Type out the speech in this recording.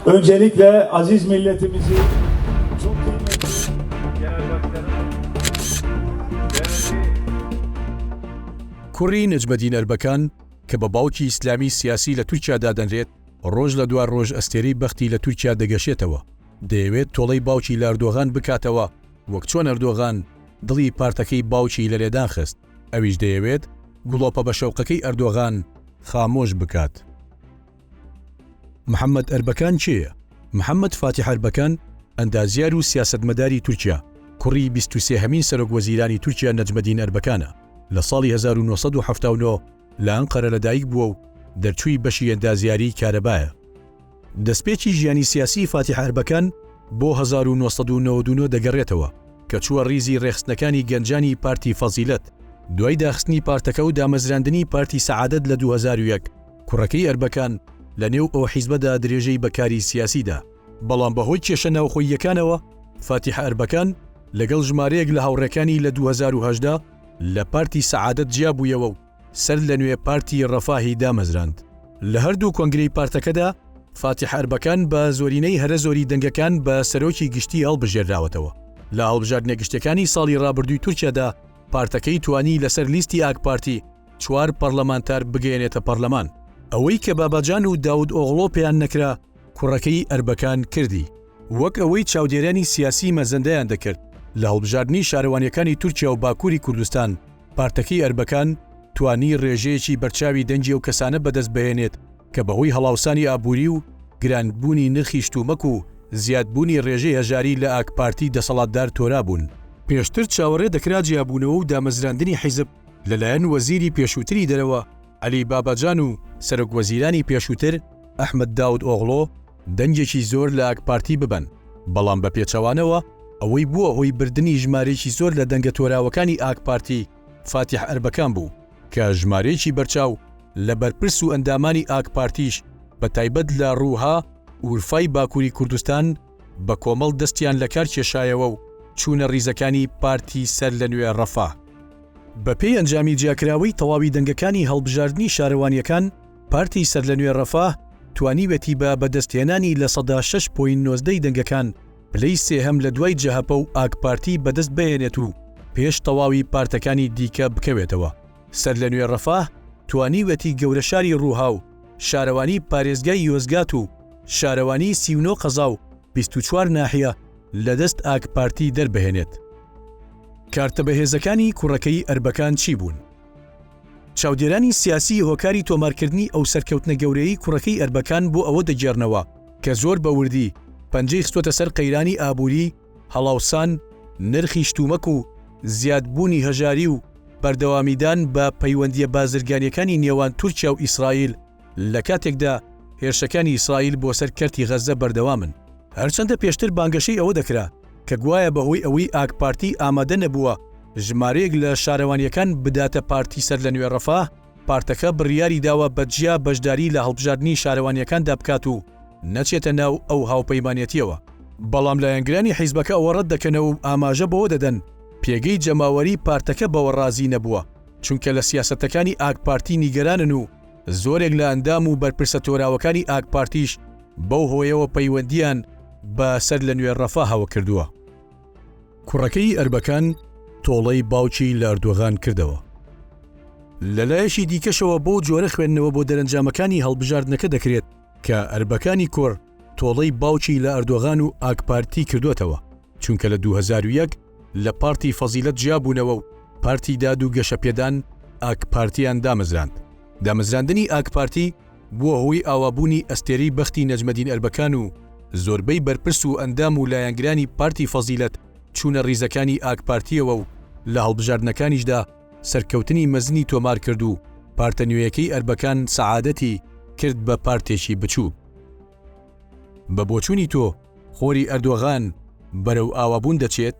Öncelikle aziz milletimizi çok کوڕی نەجمەدین ئەربەکان کە بە باوکی ئیسلامی سیاسی لە تورکیا دادەنرێت ڕۆژ لە دوای ڕۆژ ئەستێری بەختی لە تورکیا دەگەشێتەوە دەیەوێت تۆڵەی باوکی لاردۆغان بکاتەوە وەک چۆن ئەردۆغان دڵی پارتەکەی باوکی لە لێدان خست ئەویش دەیەوێت گوڵۆپە بە شەوقەکەی ئەردۆغان خامۆش بکات محەمەد ئەربەکان کێیە؟ محەمەد فاتیح ئەربەکان، ئەندازیار و سیاسەتمەداری تورکیا، کوڕی بیست و سێ هەمین سەرۆکوەزیرانی تورکیا نەجمەدین ئەربەکانە، لە ساڵی هەزار و نۆ سەد و حەفتا و نۆ لە ئەنقەرە لەدایک بووە و دەرچووی بەشی ئەندازیاریی کارەبایە. دەستپێکی ژیانی سیاسیی فاتیح ئەربەکان بۆ هەزار و نۆ سەد و نەوەد و نۆ دەگەڕێتەوە کە چووە ڕیزی ڕێکخستنەکانی گەنجانی پارتی فەزیلەت، دوای داخستنی پارتەکە و دامەزراندنی پارتی سەعادەت لە دوو هەزار و یەک. کوڕەکەی ئەربەکان لە نێو ئەو حیزبەدا درێژەی بە کاری سیاسی دا، بەڵام بە هۆی کێشە ناوخۆییەکانەوە فاتیح ئەربەکان لەگەڵ ژمارەیەک لە هاوڕێکانی لە دوو هەزار و هەژدە لە پارتی سەعادەت جیابوویەوە و سەر لە نوێ پارتی ڕەفاهی دامەزراند. لە هەر دوو کۆنگرەی پارتەکەدا فاتیح ئەربەکان بە زۆرینەی هەرە زۆری دەنگەکان بە سەرۆکی گشتی هەڵبژێرراوەتەوە. لە هەڵبژاردنە گشتیەکانی ساڵی ڕابردووی تورکیادا پارتەکەی توانی لەسەر لیستی ئاکپارتی، چوار پەڕلەمانتار بگەیەنێتە پەڕلەمان. ئەوەی کە باباجان و داود ئۆغڵۆ پێیان نەکرا کوڕەکەی ئەربەکان کردی. وەک ئەوەی چاودێرانی سیاسی مەزەندەیان دەکرد لە هەڵبژاردنی شارەوانیەکانی تورکیا و باکوری کوردستان پارتەکەی ئەربەکان توانی ڕێژەیەکی بەرچاوی دەنگی ئەو کەسانە بەدەست بهێنێت کە بەهۆی هەڵاوسانی ئابوری و گرانبونی نرخی شتومەک و زیادبونی ڕێژەی هەژاری لە ئاکپارتی دەسەڵاتدار تۆرابون. پێشتر چاوەڕێ دەکرا جیابونەوە و دامەزراندنی حیزب لەلایەن وەزیری پێشووتری دەرەوە عەلی باباجان و سەرۆک وەزیرانی پێشووتر ئەحمەد داود ئۆغڵۆ دەنگێکی زۆر لە ئاکپارتی ببەن، بەڵام بە پێچەوانەوە ئەوەی بووە هۆی بردنی ژمارەیەکی زۆر لە دەنگە تۆراوەکانی ئاکپارتی فاتیح ئەربەکان بوو کە ژمارەیەکی بەرچاو لە بەرپرس و ئەندامانی ئاکپارتیش بە تایبەت لە رووها ئورفای باکووری کوردستان بەکۆمەڵ دەستیان لەکار کێشایەوە و چوونە ریزەکانی پارتی سەرلەنوێ رەفاه. بەپێی ئەنجامی جیاکراوەی تەواوی دەنگەکانی هەڵبژاردنی شارەوانییەکان، پارتی سەرلەنوێ رەفاه توانیوێتی بە بەدەستهێنانی لە سەدا شەش پۆینت نۆزدە ی دەنگەکان پلەی سێهەم لەدوای جەهەپە و ئاکپارتی بەدەست بهێنێت و پێش تەواوی پارتەکانی دیکە بکەوێتەوە. سەرلەنوێ ڕەفاه توانیویەتی گەورە شاری ڕووها و شارەوانی پارێزگای یۆزگات و شارەوانی سی و نۆ قەزا و بیست و چوار ناحیە لە دەست ئاک پارتی دەربهێنێت. کارتە بەهێزەکانی کوڕەکەی ئەربەکان چی بوون؟ چاودێرانی سیاسی هۆکاری تۆمارکردنی ئەو سەرکەوتنە گەورەیەی کوڕەکەی ئەربەکان بۆ ئەوە دەگێڕنەوە کە زۆر بە وردی پەنجەی خستۆتە سەر قەیرانی ئابووری هەڵاوسان نرخی شتومەک و زیادبوونی هەژاری و بەردەوامیدان بە پەیوەندییە بازرگانییەکانی نێوان تورکیا و ئیسرائیل لە کاتێکدا هێرشەکانی ئیسرائیل بۆ سەر کەرتی غەززە بەردەوامن. هەرچەندە پێشتر بانگەشەی ئەوە دەکرا کە گوایە بەهۆی ئەوەی ئاکپارتی ئامادە نەبووە ژمارەیەک لە شارەوانییەکان بداتە پارتی سەرلەنوێ ڕەفاه، پارتەکە بڕیاری داوە بە جیا بەشداری لە هەڵبژاردنی شارەوانییەکاندا بکات و نەچێتە ناو ئەو هاوپەیمانێتییەوە، بەڵام لایەنگرانی حیزبەکە ئەوە ڕەت دەکەنەوە و ئاماژە بەوە دەدەن پێگەی جەماوەریی پارتەکە بەوە ڕازی نەبووە، چونکە لە سیاسەتەکانی ئاکپارتی نیگەرانن و زۆرێک لە ئەندام و بەرپرسە تۆراوەکانی ئاکپارتیش بەو هۆیەوە پەیوەندییان بە سەرلەنوێ ڕەفاهەوە کردووە. کوڕەکەی ئەربەکان تۆڵەی باوکی لەردوغان کردەوە. لەلایەکی دیکەشەوە بۆ جۆرە خوێندنەوە بۆ دەرەنجامەکانی هەڵبژاردنەکە دەکرێت کە ئەربەکانی کوڕ تۆڵەی باوکی لە ئەردۆغان و ئاکپارتی کردوەتەوە چونکە لە 2001 لە پارتی فەزیلەت جیابوونەوە و پارتی داد و گەشەپێدان ئاکپارتیان دامەزراند. دامەزراندنی ئاکپارتی بووە هۆی ئاوابوونی ئەستێرەی بەختی نەجمەدین ئەربەکان و زۆربەی بەرپرس و ئەندام و لایەنگرانی پارتی فەزیلەت چوونە ڕیزەکانی ئاکپارتییەوە و لە هەڵبژاردنەکانیشدا سەرکەوتنی مەزنی تۆمار کرد و پارتە نوێیەکەی ئەربەکان سەعادەتی کرد بە پارتێکی بچووک. بە بۆچوونی تۆ خۆری ئەردۆغان بەرەو ئاوابوون دەچێت؟